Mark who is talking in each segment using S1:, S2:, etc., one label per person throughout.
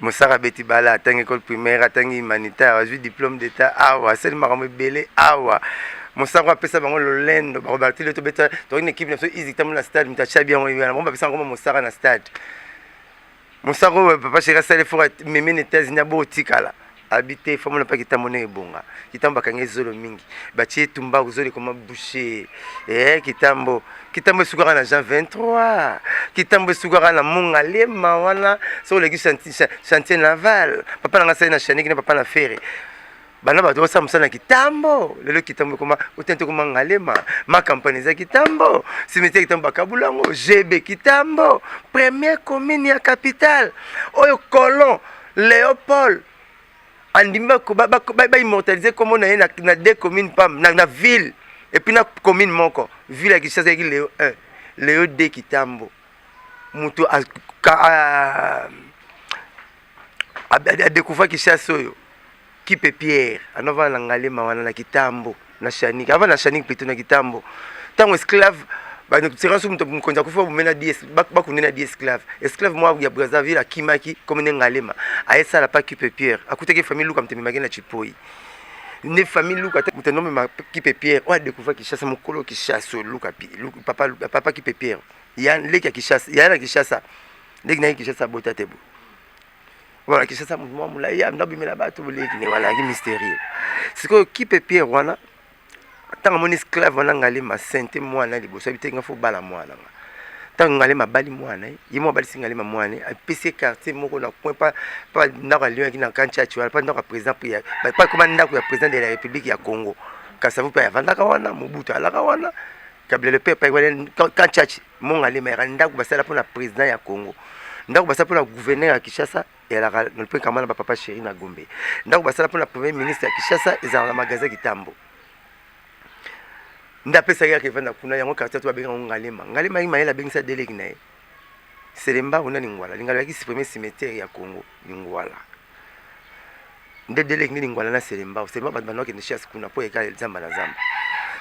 S1: mosaka abeti bala atangi ecole primaire atangi humanitaire azwi diplôme d'état awa asali makambo ebele awa mosaka apesa bango lolendo bakobatile tobeta tokoki na ekipe na biso izi tambo na stade moto atya biango wana bango bapesa yango mosaka na stade mosaka oyo papa sheri asali fora meme na états-unis abotikala Habite femme na pas kitambo ne ebonga kitambo bakangi zolo mingi batie tumbaku zolo ekoma bouche eh kitambo kitambo esukaka na jean 23 kitambo esukaka na mongalema wana soki oleki chantier naval papa na ngai asali na chaniki na papa na fere bana bato basala mosala na kitambo lelo kitambo ekoma otente ekoma ngalema makampani eza kitambo simetiere kitambo bakabula yango gb kitambo premier commune ya capitale oyo colon Léo Paul andimi baimmortalise nkombo na ye na de commune pam na ville epuis na commune moko ville ya kinshasa ezalaki leo 1 leo de kitambo moto adecouvra kinshasa oyo Kipe Pierre ano avanda na Ngalema wana na Kitambo na Shanik avanda na Shanik plutôt na Kitambo ntango esclave banekutirance mokonzi akufi babume na bi bakunde na bi esclave esclave mwa ya Brazzaville akimaki comme ne Ngalema ayesala pa Kipe Pierre akutaki famille Luka mtememaki na Chipoyi ne famille Luka te moto nomema Kipe Pierre oyo adécouvra Kinshasa mokolo Kinshasa Luka papa papa Kipe Pierre ya leki ya Kinshasa ya na Kinshasa leki na ye Kinshasa abota te bo Voilà, qui ça mouvement moula ya ndabu mela batu bole qui voilà qui mystérieux. C'est quoi qui peut Pierre wana tanga mon esclave wana ngali ma sainte mwana liboso bite nga fo bala mwana nga. Tanga ngali ma bali mwana ye mo bali singali ma mwana a PC quartier moko na coin pas pas ndako ya Lyon qui na kancha tu pas ndako ya président Pierre pas comme ndako ya président de la République ya Congo. Kasavu pe avandaka wana Mobutu alaka wana. Kabila le peuple kancha Mongalema yaka ndako basala mpo na president ya Congo, ndako basala mpo na gouverneur ya Kinshasa elaka mpe kama na bapapa sheri na Gombe, ndako basala mpo na premier ministre ya Kinshasa ezalaka na magasin Kitambo nde apesaki yaka evanda kuna yango quartier to babenga yango Ngalema. Ngalema yaki mayele abengisa deleki na ye Selemba ona Lingwala. Lingala yaki supprimer cimetière ya Congo Lingwala nde deleki nde Lingwala na Selemba. Selemba bato bandaki ne chasse kuna mpo yaka zamba na zamba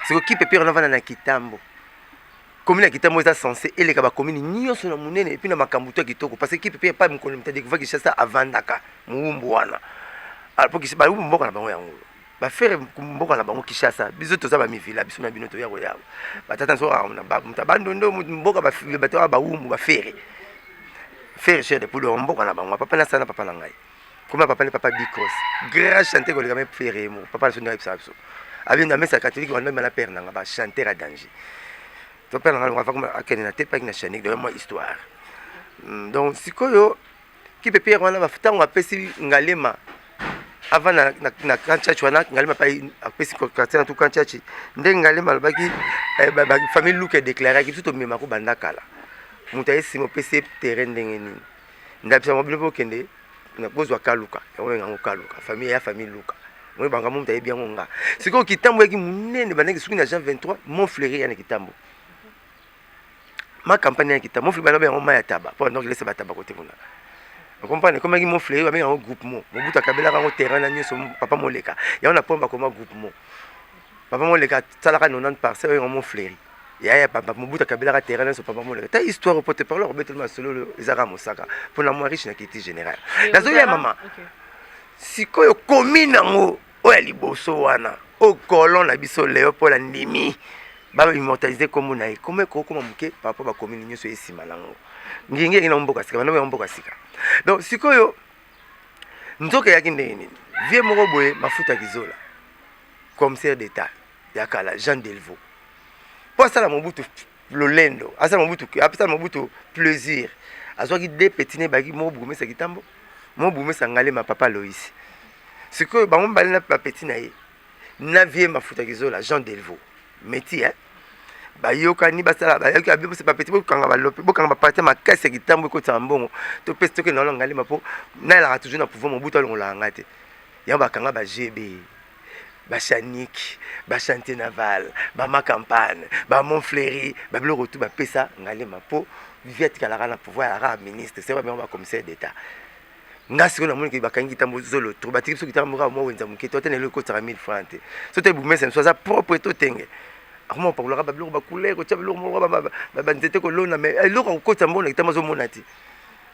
S1: siko kipe pire na vanda na Kitambo Commune ya Kitamo eza censé eleka ba commune nyonso na munene epi na makambo to kitoko parce que kipe pe pa mokolo mta découvrir Kinshasa avandaka muumbu wana alors po ba umbu mboka na bango yango ba faire mboka na bango Kinshasa biso toza ba mivila biso na bino toya koya ba tata nso na ba mta bando ndo mboka ba bato ba umbu ba faire faire cher de poule mboka na bango papa na sana papa na ngai koma papa ne papa bicos grand chanteur koleka me ferre mo papa na so ndenge ayebisaka biso abi na mesa catholique wana mema na père nanga ba chanteur ya danger to père nanga longa fakoma akende na tepaki na chanique donc moi histoire hmm, donc sikoyo kipe pierre wana ntango apesi ngalema avant na, na, na kanchachi wana ngalema pa apesi quartier na tout kanchachi ndenge ngalema alobaki eh, famille luke déclaraki biso tomemako banda kala moto ayesima opesi ye terrain ndenge nini ndakisa mobile mpe okende kozwa kaluka yango benga yango kaluka famille ya famille luka moi banga moto ayebi yango nga sikoyo kitambo yaki monene bandaki soki na jean 23 mon fleuri ya na kitambo ma campagne ya kitambo mon fleuri balobi yango mai ya taba mpo bandaki lesa bataba kote kuna okomprane ekomaki mon fleuri babenga yango groupe mo mobutu akabelaka yango terrain na nyonso papa moleka yango na mpo bakoma groupe mo papa moleka asalaka 90 parcelle oyo yango mon fleuri yaya papa mobutu akabelaka terrain nyonso papa moleka ta histoire oyo pote parle akobeteli masolo oyo eza kaka mosaka mpo na mwa riche na kiti général nazoya mama sikoyo komi nango oyo ya liboso wana oyo colon na biso leopold andimi baimmortalise nkombo na ye nkombo ekokoma moke papa bakomini nyonso ye nsima nango ngingi yangi na mboka sika bandomo ya mboka sika donc sikoyo nzoka eyaki ndenge nini vie moko boye mafuta kizola commissaire d'état ya kala Jean Delvaux mpo asala Mobutu lolendo, asala Mobutu apesala Mobutu plaisir, azwaki de petit ne baki moko Bugumesa Kitambo, moko Bugumesa Ngalema Papa Lois. Sikoyo bango mibale na ba petit na ye na vie Mafuta Kizola Jean Delvaux meti eh bayokani basala bayoki abi bose bapeti bokanga balope bokanga bapati makasi ya kitambo ekotisaka mbongo topesi tokende wana ngalema mpo nayelaka toujours na pouvoir mobutu alongolaka ngai te yango bakanga ba gb bashaniki bashante naval bamakampane bamonfleri babiloko tu bapesa ngalema mpo vivi atikalaka na pouvoir ya kaka ministre se babengo bacommissaire d'état nga sikoyo namoni ke bakangi kitambo zolo tro batiki biso kitambo kaka mwa wenza moke to ata na eloko ekotaka 1000 franc te so te bumese mosu aza propre to tenge akoma kopakolaka babiloko bacouleur kotya biloko moko banzete kolona mai eloko akokotisa mbona kitambo azomona te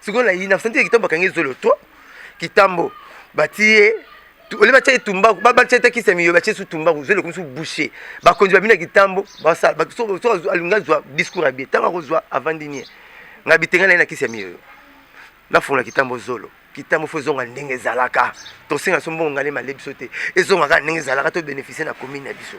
S1: sikoyo na yina santi kitambo bakangi zolo to kitambo batiye ole batya ye tumbaku batya ata kisa miyo batya su tumbaku zolo ekomi su bouche bakonzi babina kitambo basala soki alingi azwa discours ya bie ntango akozwa avandi nie nga bitenga na ye na kisi ya miyoyo nafungola kitambo zolo kitambo fo ezonga ndenge ezalaka tosenga so mbongo ngale male biso te ezonga kaka ndenge ezalaka to bénéficie na commune na biso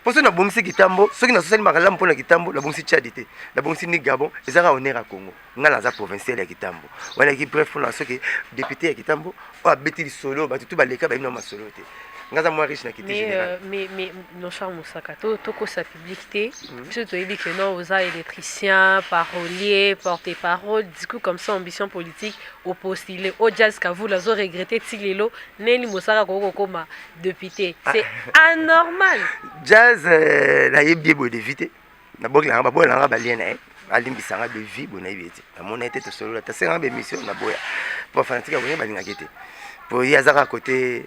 S1: mpo soki nabongisi kitambo soki nasosali makalamu mpo na kitambo nabongisi tchadi te nabongisi ni gabon ezaka honneur ya congo nga naza provincial ya kitambo wana ki bref mpona soki député ya kitambo oyo abeti lisolo bato tu baleka bayina masolo te nga aza mwa riche na kiti général mais mais mon cher
S2: mosaka to tokosa public te hmm. biso toyebi que non oza électricien parolier porte parole discours comme ça ambition politique opostile o jazz kavula azo regrette ti lelo neli mosaka koki kokoma député ah. c'est anormal jazz
S1: euh, nayebi ye boye devite na boki nanga baboya nanga balie na ye alimbisa nga bevi boye nayebi ye te namona ye te tosolola tasenganga bemission naboya mpo bafanatique ya boye balingaka ye te mpo ye aza kaka kote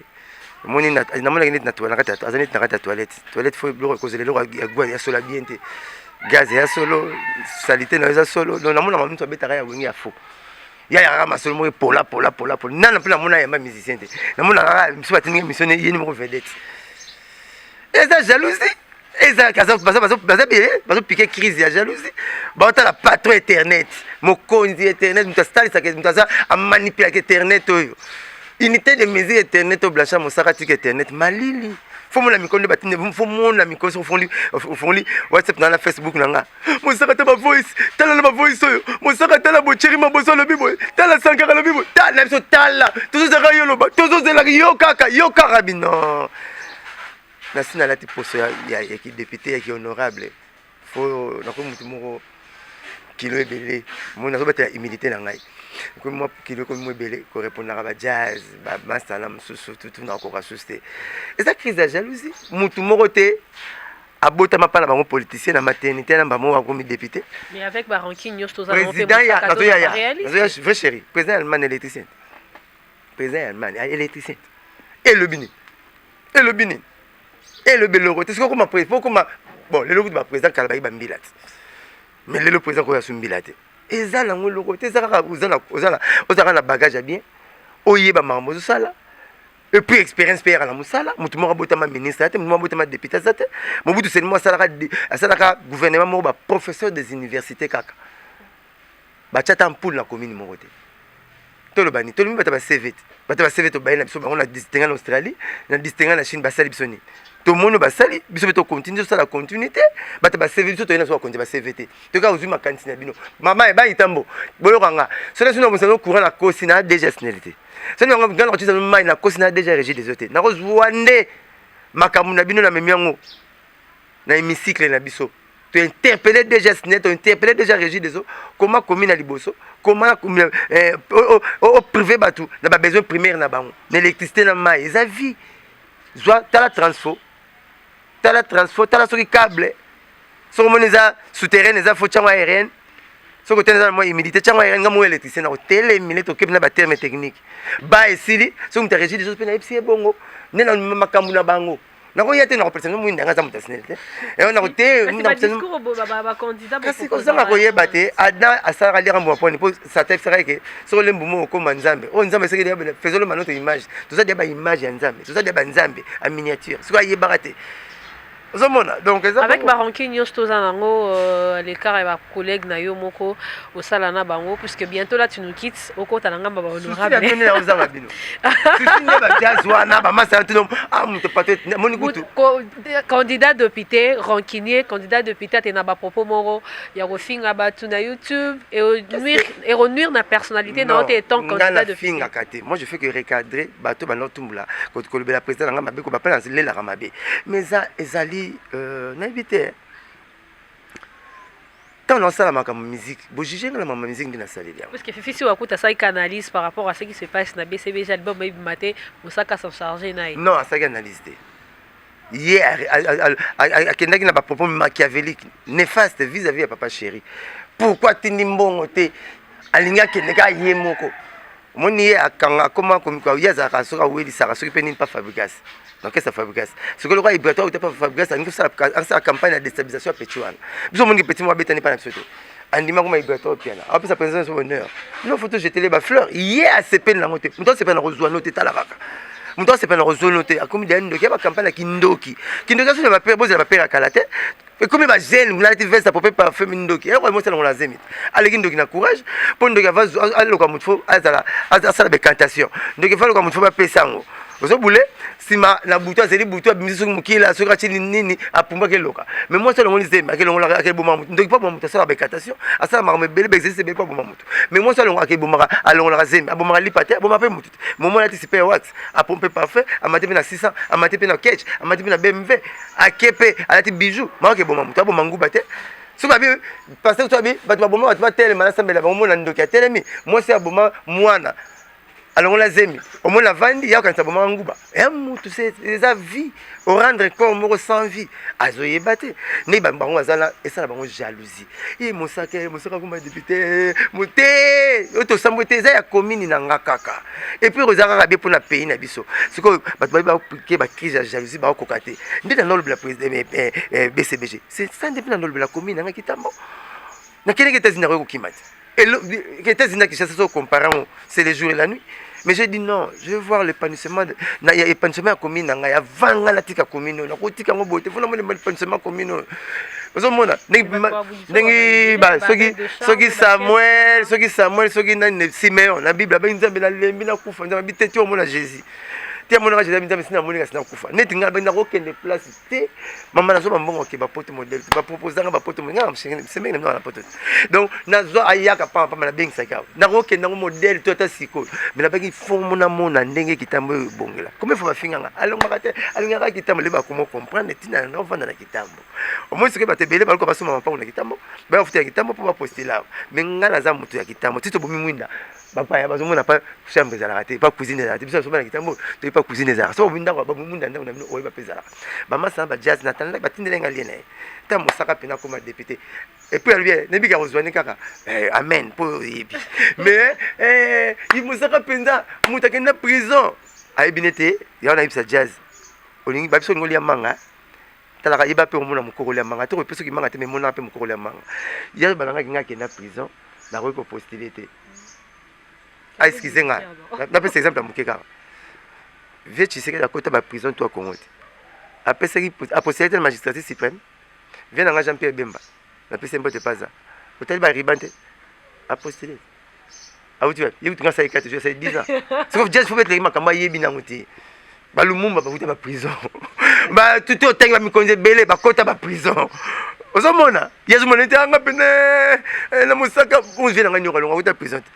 S1: omoni namonaki neti aza neti na kati ya toilette toilette fo biloko ekozela eloko ya sola bien te gaz ya solo salite na yo eza solo donc namonaka moto abetaka ya wenge ya faux ya yaka masolo moko epola pola pola pola nana mpe namona yamba musicien te namonaka kaka mosusu batindika émission ne yeni moko vedette eza jalousie bazo piquer crise ya jalousie baotala patron internet mokonzi internet moto asalisaka moto aza amanipulaka internet oyo unité de mesure internet oyo blanchard mosaka tika internet malili fo mona mikolo nde batinde fo mona mikolo soki ofongoli ofongoli whatsapp na na facebook na nga mosaka ta bavoice tala na bavoice oyo mosaka tala bocheri maboso alobi boye tala sankara alobi boye tala na biso tala tozozalaka yo loba tozozelaka yo kaka yo kaka bino nasi nalati poso ya, ya, ya kidepute ya kihonorable fo nakomi motu moko kilo ebele moi nazobatela humilité na ngai ekomi mwa kilo ekomi mwa ebele korepondaka ba jazz bamasala mosusu tutu nakoka susu te eza crise ya jalousie motu moko te abotama mpa na bango politicien na maternité na mbamo akomi député
S2: président ya nazoya
S1: ya nazoya vrai chéri président ya allemagne électricien président ya allemagne électricien elobi nini elobi nini elobi eloko te soki okoma president okoma bon lelo kutu baprésident kala bayi bambila te mais lelo président koya so mbila te eza nango eloko te eza kaka ozalaka na bagage ya bien oyeba makambo ozosala epuis expérience mpe yaka na mosala motu moko abotama ministre ya te motu moko abotama député aza te mobutu selimo asalaka gouvernement moko baprofesseur des universités kaka Batia ata ampoule na commune moko te. Toloba nini? Tolobi bata ba CV te. Bata ba CV tobaye na biso bango na distinga na Australie, na distinga na Chine basali biso nini? Tomoni basali biso pe to continue sala continue te. Bata ba CV biso toyena so konje ba CV te. Toka ozui makanisi na bino. Mama e bayi tambo. Boyoka nga. Soki sino bosano courant na kosi na déjà snelite. Soki nga ngana kotisa mai na kosi na déjà régie des eaux te. Na kozua nde makambo na bino na memi yango na hémicycle na biso. to interpelle déjà sine to interpelle déjà régie des eaux koma komi na liboso koma eh, o privé bato na babesoin primaire na bango na électricité na mai eza vie zwa tala transfo tala transfo tala soki cable soki omoni eza souterraine eza fo tyango aérienne soki otene eza na mwa humidité tyango aérienne nga mwa électricité na kotelemile tokebi na baterme technique ba esili soki moto ya régie des eaux mpe nayebisi ye bongo nde na makambo na bango nakoya te nakopesa bino mwinda ngai aza moto ya snel te yango nako te
S2: kasi kozanga koyeba
S1: te adam asalaka likambo maponi mpo satan efisaka eke soko olembu moko okoma nzambe oyo nzambe soki liya fezolo manoto image toza dia baimage ya nzambe toza dia banzambe a miniature soki ayebaka te ozomona donc eza avec baranki
S2: nyonso toza nango euh, lekara ya collègue na yo moko osala na bango puisque bientôt là tu nous quittes okota na ngamba ba honorable nini na ozanga bino sisi nde ba jazz wana ba masa tino ah mutu pate moni kutu candidat député rancunier candidat député te na ba propos moko ya kofinga batu na YouTube et nuire et renuire na personnalité na ote étant candidat de finga kate moi je fais que recadrer
S1: bato ba no tumbula ko kolobela président na ngamba beko ba pala lela kamabe mais ezali euh, na éviter ntango nasala makambo miziki bojuge nga na mama miziki nde nasaleli yango parce que fifi si wakuta
S2: asalaki analyse par rapport à ce qui se passe na bcbg album ebima te mosaka s'en charge na ye non asalaki analyse te
S1: ye akendaki na bapropos machiavelique néfaste vis à vis ya papa chéri pourquoi atindi mbongo te alingi akende kaka ye moko omoni ye akanga akoma komika ye azalaka soki awelisaka soki mpe nini mpa fabrigas na orchestre fabrigas soki lokola ibratoire uta mpa fabrigas alingi asala campagne ya destabilisation ya petit wana biso omoni petit moko abetani mpa na biso te andima koma ibratoire piana apesa mpenza biso bonheur bino foto jetele bafleur ye asepeli nango te moto asepela na kozwa no te tala kaka moto asepela na kozwa no te akomi deya ndoki ya bacampagne ya kindoki kindoki asoni bapere bozela bapere ya kala te ekomi ba jeune kuna alati veste apope parfum mindoki eloko yango osala ngo na zemi aleki ndoki na courage mpo ndoki ava aloka motu fo azala asala becantation ndoki ava aloka motu fo bapesa yango ozobule nsima na butu azali butu abimisi soki mokila soki atini nini apumbaki eloka me mwasi alongoli zemi akelongolaka akeboma motu ndoki mpo aboma motu asalaka becantation asalaka makambo ebele baexercice ebele mpo aboma motu me mwasi alongolaka alongolaka zemi abomaka lipa te aboma mpe motu momo alati sipe ya wax apompe parfum amati mpe na 600 amati mpe na ketch amati mpe na bmv ake mpe alati bijou maoke eboma moto aboma nguba te soki abi paster to abi bato baboma bato batelema nasambela bango mona ndoki atelemi mwasi aboma mwana alongola zemi omona avandi ya okanisa abomaka nguba ya mutu eza vie orendre corps moko sans vie azoyeba te nde bango bazala esala bango jalousie ye mosaka ye mosaka akoma depute mote oyo tosambwe te eza ya commune na nga kaka epuis oza kaka be mpona pays na biso sikoyo bato baye baoplike bacrise ya jalousie baokoka te nde nanga olobela bcbg sesa nde mpe nanga olobela commune nanga kitambo nakendeki etats-unis nakoki kokima te Qu'était-ce que ça se compare C'est le jour et la nuit. Mais j'ai dit non, je vais voir l'épanouissement. Il y a l'épanouissement commun. Il y a 20 ans de la commune. Il y a 20 ans de l'épanouissement commun. ozomona ndenge soki samuel soki samuel soki nani simeon na bible abengi nzambe nalembi nakufa nzambe abiteti omona jésus te amonaka jésus abi nzambe sinamoneka sinakufa neti ngai abengi nakokende place te mama nazwa bambongo ke bapoto modele te baproposanga bapoto nga semeki na bino na poto te donc nazwa ayaka pamba pamba nabengisaki awa nakokenda yango modele to ata sikoyo me nabaki fomo namona ndenge kitambo oyo ebongela komi fo bafinganga alongaka te alingaka kitambo leba komo comprendre ntina yango ofanda na kitambo omoni sikoyo bato ebele baluka basomba mapango na kitambo bayafuta ya kitambo mpo bapostela awa me nga naza moto ya kitambo ti tobomi mwinda bapaya bazomona pa chambre ezalaka te pa cuisine ezalaka te biso nasoba na kitambo toyebi pa cuisine ezalaka so obi ndako babomunda ndako na bino oyeba mpe ezalaka bamasa na bajaz na tanda batindele nga lie na ye ta mosaka mpe nakoma depute epuis alobi eh, nayebi ka kozwani kaka eh, amen mpo oyebi mais eh, mosaka mpenza moto akenda prison ayebi ne te yango nayebisa jaz olingi babiso olingi olia manga talaka yeba mpe omona mokokoli ya manga te koyepe soki manga te me emonaka mpe mokokoli ya manga ya balangaki ngai akenda prison nakoki kopostile te aexcuse ah, nga napesa exemple ya moke kaka vie tshisekedi akota baprison to ya congo te apesaki apostile te na magistrature suprême vie na ngai jean pierre bemba napesi mbote paza otali bariban te apostile awuti wapi ye kutu nga asali kati asali 10 ans soki jazz fobe eteleki makambo ayebi nango te balumumba bakuta baprison batuti otangi bamikonzi ebele bakota baprison ozomona yazomona ete anga pene eh, na mosaka ozwi na ngai nyoka longo akuta prison te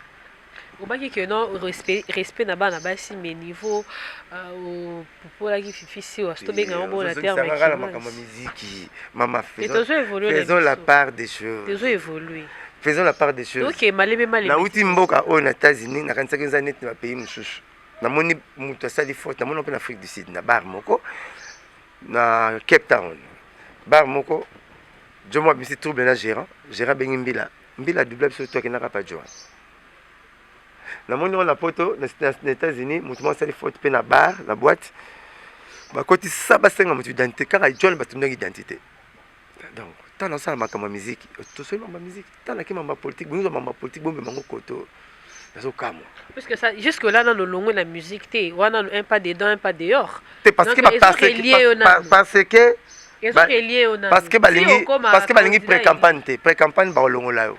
S1: obaki
S2: ke non respect, respect na bana basi mais niveau euh, topolaki fifi siwa so tobenga yango bona termekala makambo ya miziki
S1: mama faisons la part des choses tozo évolue
S2: faisons la part des
S1: choses okay, malebe malebe nauti
S2: mboka
S1: oyo na états-unis nakanisaki eza neti na bapays mosusu namoni moto asali faute namoni mpe na afrique du sud na bar moko na cape town bar moko jomo abimisi trouble na gérant gérant abengi mbila mbila dubla biso to akendaka pa joan na moni wana poto na États-Unis moto moko asali faute mpe na bar na boîte bakotisa basenga moto identité kaka john batindaki identité donc ntango nasala makambo ya miziki tosoli mambo ya miziki ntango nake mambo ya politike bonyoza mambo ya politike bombe bango koto nazokamwa puisque ça jusque
S2: là nano olongwe na musique te wana un pas dedans un pas dehors te parce que parce
S1: que parce que parce que balingi pré-campagne te pré-campagne bakolongola yo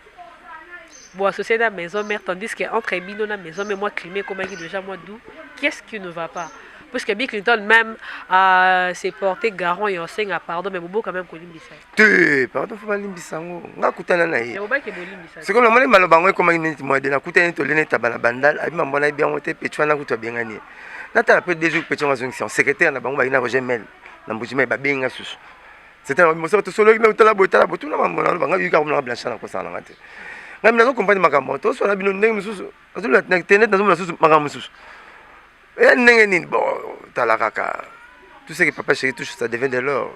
S2: Bo associer na maison mère tandis que entre bino na maison mère moi climat ekomaki déjà moi d'où qu'est-ce qui ne va pas puisque Bill Clinton même a se porté garant et osenga pardon mais bobo quand même kolimbisa te pardon faut
S1: balimbisa yango nga kutana na ye sikoyo namoni maloba yango ekomaki neti moyede nakutani neti olene etaba na bandal abi mambo na yebi yango te pecho wana kutu abengani ye natala mpe deux jours pecho yango azongisa secrétaire na bango bakina roger mel na mbuji mai babengi nga susu C'était la mosa to solo na utala boy tala botuna mambo na banga yuka komna blancha na kosala ngate. Ngai mna ko comprendre makambo to solo bino ndenge mususu. Azo la internet nazo mona susu makambo mususu. Eh ndenge nini bon tala kaka. Tout ce que papa chéri touche ça devient de l'or.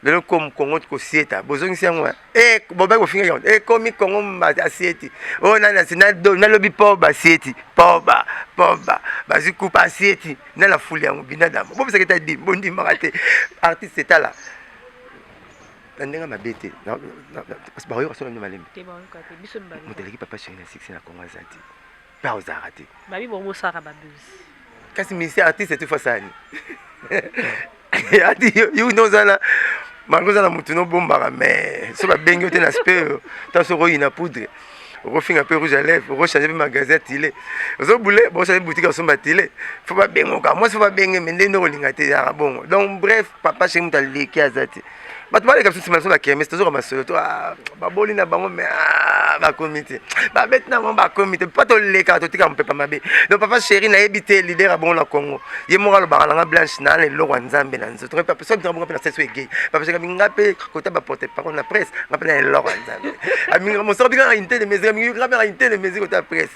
S1: lelo comme kongo kosieta bozongisi yango e bobai kofinga yango ekomi kongo mbati asieti oyo nani asi nalobi poba asieti poba poba bazwi kupa asieti na la foule yango binadama bobisaka eta dim bondimaka te artiste etala na ndenge mabe te bakoyoka solo nde malembe moto aleki papa sheri na succès na congo aza te mpe akozalaka te
S2: kasi misi
S1: artiste etufasani ati yo nde oza na malgre oza na motu nobombaka mais so babengi yo te na spe ntango soki oyina poudre okofinga mpe rouge à lèvre okochange mpe magasin tile ozobule bochange boutique osomba tile fo babengoka mwasi fo babenge me nde nde okolinga te yaka bongo donc bref papa chez moto aleki aza te bato baleka biso nsima na biso na kermes tozoka masolo to ah, baboli na bango me ah, bakomi te babeti na bango bakomi te mpo tolekaka totika mopepa mabe donc papa chéri nayebi te lider ya bongo na congo ye moko alobaka nanga blanche naa na eloko ya nzambe na nzoto soki ntango bongo mpe na sesi oyo egei papa chéri nga mpe kota baporte parole na presse nga mpe na eloko ya nzambe aminga mosaka bika na inte de mesure amingi nga mpe na inte de mesure kota presse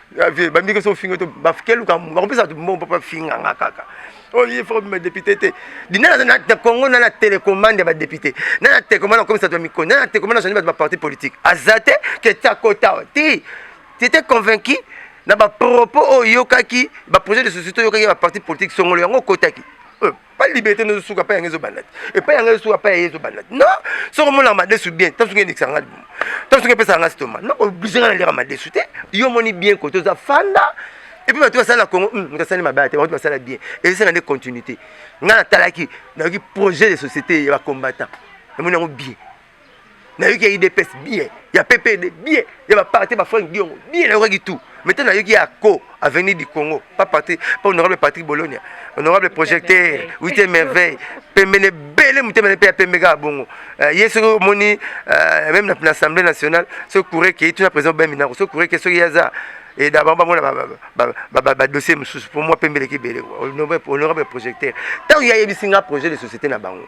S1: ya vie bambi ke so finga to bakeluka bakopesa to mbongo papa finga nga kaka oyo oh, ye fo bima député te dina na congo na na télécommande ya badéputé na na télécommande akomisa to ya mikoni na na télécommande azwani bato baparti politique aza te ke tiakota wa ti tete convaincu na bapropos oyo oyokaki baprojet de société oyokaki ya baparti politique songolo yango okotaki euh. pa liberté no suka pa yangezo banda et pa yangezo suka pa yezo banda non soko mona madesu bien tanso ngende kisanga libumu tanso ngende pesa ngasi toma non obligé ngana lira madesu te yo moni bien ko toza fanda et puis bato basala congo hmm, moto asali mabe te bato basala bien ezosala nde continuité ngai natalaki nayoki projet de société ya bacombattant namoni yango bien nayoki ya idps bien ya ppd bien ya baparte bafrank diongo bien nayokaki tout mais te nayoki ya co avenir du congo pa parti pa honorable patrick bologna honorable projecteur wite merveille pembeni ebele motema ne mpe ya pembe kaka bongo euh, ye soki omoni euh, meme na assemblée nationale soki courre kei tuna président ben minako soki courre ke soki ye aza eda bango bamona badossier mosusu mpo mwa pembe eleki ebele honorable projecteur ntango ye ayebisi nga projet de société na bango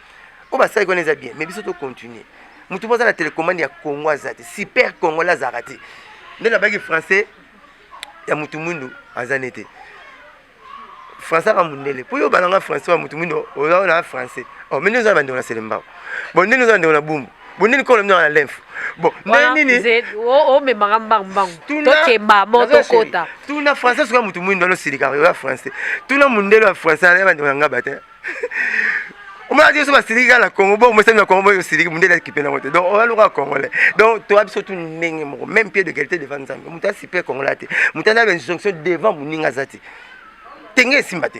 S1: oyo basali wana eza bien mais biso to continuer motu mpo aza na telecommande ya congo aza te super congolais azalaka te nde nabaki français ya motu mwindu aza ne te français aka mundele mpo yo obalanga français wa motu mwindu oza na français o oh, mende oza na bandeko na selembao bon ndeni oza na bandeko na bumbu bonini kolo mino na lymphe bon ndenge nini omemaka
S2: mbangu mbangu tokemba mo tokota tuna français soki ya
S1: motu mwindo alosilika oya français tuna mondelo ya français aya bandeko na ngaba te omona biso basiliki kaka na congo bo omesani na congo boyo osiliki mundele akipe nango te donc oya lokola congolais donc toya biso tu ndenge moko même pied de qualité devant nzambe moto asipe congolais te moto ana bainjonction devant moninga aza te tenge esimba te